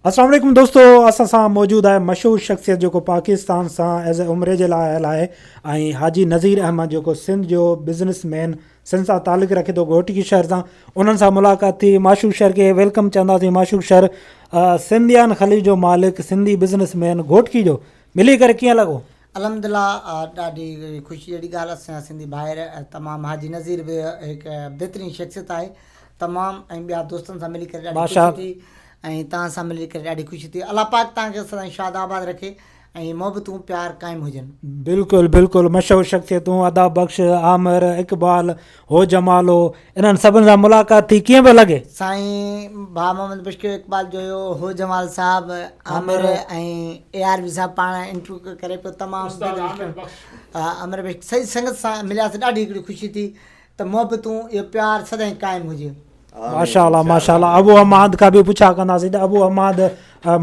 السلام عليڪم دوستو اسان سان موجود آهي مشهور شخصيت جيڪو پاڪستان سان ايز اي عمري جي لاء آيل آهي ۽ حاجي نظير احمد جيڪو سنڌ جو بزنس مين سنڌ سان تعلق رکي ٿو گهوٽڪي شهر سان انهن سان ملاقات ٿي معشوق شهر کي ويلڪم چونداسين معشوق شهر سنڌيان خليج جو مالڪ سنڌي بزنس مين گهوٽڪي جو ملي ڪري ڪيئن لڳو الحمدلله ڏاڍي خوشي جهڙي ڳالهه اسان جا سنڌي ڀائر تمام حاجي نظير به هڪ بهترين شخصيت آهي تمام ۽ ٻيا دوستن سان ملي ڪري ڏاڍي خوشي ٿي ۽ توهان سان ملي ڪري ڏاڍي خوشي ٿي الله پاڪ توهان کي سدائين شاد آباد رکي ۽ محبتون پيار قائم هجن. بلڪل بلڪل مشهور شخصيتون ادا بخش عامر اقبال هو جمال هو. انهن سڀن سان ملاقات ٿي ڪيئن پيو لڳي؟ سائين ڀاء محمد بشڪيو اقبال جو هيو. هو جمال صاحب، عامر ۽ اي آر بي صاحب پاڻ انٽرويو ڪري پيو تمام دل وشڪڻ عامر بشڪيو سڄي سنگت سان ملياسين ڏاڍي هڪڙي خوشي ٿي ته محبتون اهو پيار سدائين قائم هجي. ماشاء الله ماشاء الله ابو حماد کا به پڇا ڪنداسين ته ابو حماد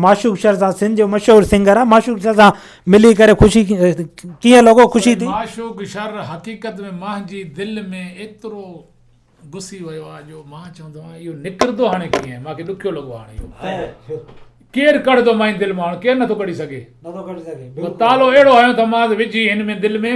معشوق شر سان سنڌ جو مشهور سنگر آ معشوق شر سان ملي ڪري خوشي ڪيئن لڳو خوشي ٿي معشوق شر حقيقت ۾ مانجي دل ۾ ايترو گسي ويو آ جو مان چوندو آ اهو نڪرندو هاڻي ڪيئن ماکي ڏکيو لڳو هاڻي اهو ڪير ڪڙدو مانجي دل مان هاڻي ڪير نٿو ڪڙي سگهي نٿو ڪڙي سگهي تالو اهڙو هيو ته مان وجهي هن ۾ دل ۾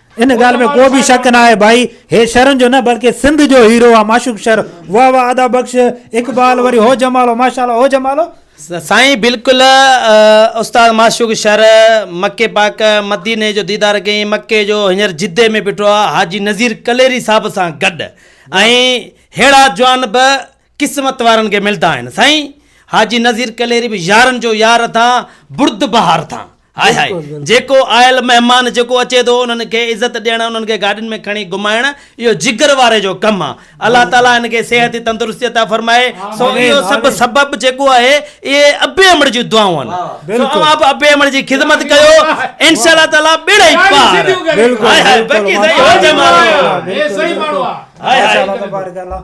ان ڳالهه ۾ ڪو به شڪ ناهي ڀائي هي شھرن جو نه بلڪه سنڌ جو هيرو آ معشوق شھر واه واه ادا بخش اقبال وري هو جمالو ماشاءالله هو جمالو. سائين بلڪل استاد معشوق شھر مڪي پاڪ مديني جو ديدار ڪيئين مڪي جو هينئر جدي ۾ بيٺو آ حاجي نذير ڪليري صاحب سان گڏ ۽ ههڙا جوان به قسمت وارن کي ملدا آهن سائين حاجي نظير ڪليري به يارن جو يار اٿا برد بهار اٿا هاء هاء جيڪو آيل مهمان جيڪو اچي ٿو انهن کي عزت ڏيڻ انهن کي گاڏين ۾ کڻي گهمائڻ اهو جگر واري جو ڪم آ الله تعالي ان کي صحت جي تندرستي عطا فرمائي سو اهو سب سبب جيڪو آهي اهي ابي امڙ جي دعائون آهن سو اوهان به ابي امڙ جي خدمت ڪيو انشاء الله تعالي ٻيڙا ئي پار هاء هاء باقي سائين هو جمال هي سائين ماڻهو آ هاء هاء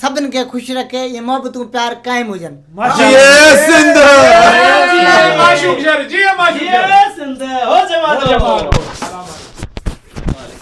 سڀن کي خوش رکي ائين محبتون پيار قائم هجن.